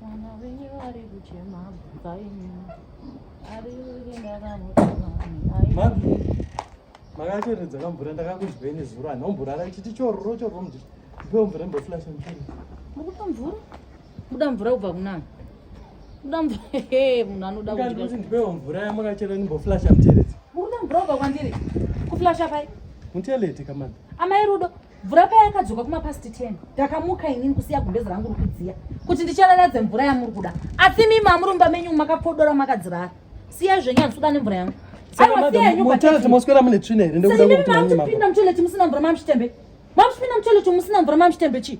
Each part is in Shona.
Mwana wenyu ari kuchema bvunza imi. Ari kuti ndakamutuma Mabvi. Makacheredza kamvura ndakakuzwei nezuro ani omborara ichiti chororo chororo mdii. Ndipewo mvura imboflasha mchini. Mukupa mvura? Kuda mvura kubva kunani? Kuda mvura he munhu anoda kuti. Ndikati ndipewo mvura yamakachera imboflasha mteredzi. Mukuda mvura kubva kwandiri? Kuflasha pai? Muteleti kamanda. Amai rudo. mvura paya yakadzoka kumapasti 10 ndakamuka inini kusiya gumbezi rangu rikudziya kuti ndichalaladze mvura yamuri kuda asi mimi amuri mumba menyu makapodora makadzirara siya zvenyu handisuda nemvura yangu mosweramune tsvina here ndokudapinda mutoileti musina mvura mamshitembe mamshipinda mutoileti musina mvura mamshitembe chii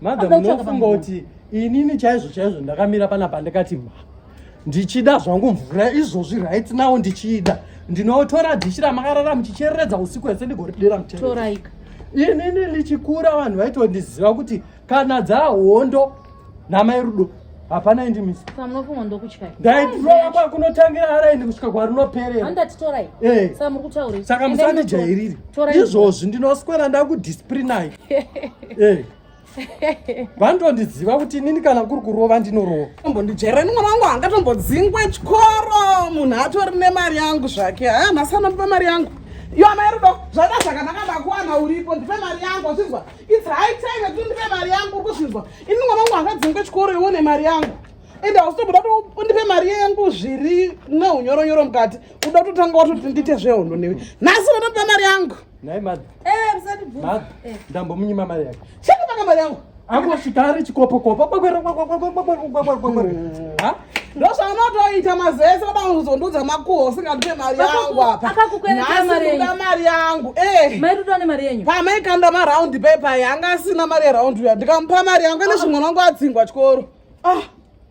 madam unofunga kuti inini chaizvo chaizvo ndakamira pana pandikati ma ndichida zvangu mvura izvozvi right now ndichida ndinotora dhishi ramakarara muchichereredza usiku hese ndigoridira mutoraika inini ndichikura vanhu vaitondiziva kuti kana dzahondo namai rudo hapana indi misi saka munofunga ndokutyai ndaidrova kwakunotangira araini kusvika kwarinoperera handati torai eh. saka muri kutaurei saka musandijairiri izvozvi ndinoswera ndakudisiprinai eh. vantondiziva kuti inini kana kuri kurova ndinorova mbondijairani mwana wangu hangatombodzingwe chikoro munhu atori nemari yangu zvake haa nhasi anondipa mari yangu iyo amai rudo zvaita zvakanaka ndakuwana uripo ndipe mari yangu achinzwa It's high time that undipe mari yangu ukuzvinzwa. Ini mwana wangu akadzingwe chikoro iwe une mari yangu. And I was told that undipe mari yangu zviri neunyoro nyoro mukati. Uda kutotanga watoti ndite zvehondo newe. Nhasi unotopa mari yangu. Nhai madha. Eh, msati bvu. Madha. Eh. Ndambo munyima mari yako. Chekupanga mari yangu. Angosvika ari chikopo kopo. Kwakwera kwakwera kwakwera kwakwera kwakwera. Ha? ndozvaunotoita mazuva ese vada kuzondiudza makuho usingandipe mari yangu apa nhasinda mari yangu eh. pamaikanda maraundi pepa yanga asina mari yeraundi uya ndikamupa mari yangu ene zvimwe wangu adzingwa chikoro ah.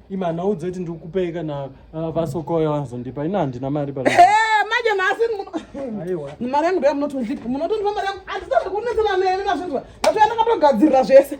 imana udze kuti ndikupei kana ah, vasokoya vanozondipa ina handina mari pa eh, manje nhasi mari yangu ndoya munotondipa munotondipa mari yangu andisazvekunetsana nene mazvinzwa ndatoya ndakatogadzirira zvese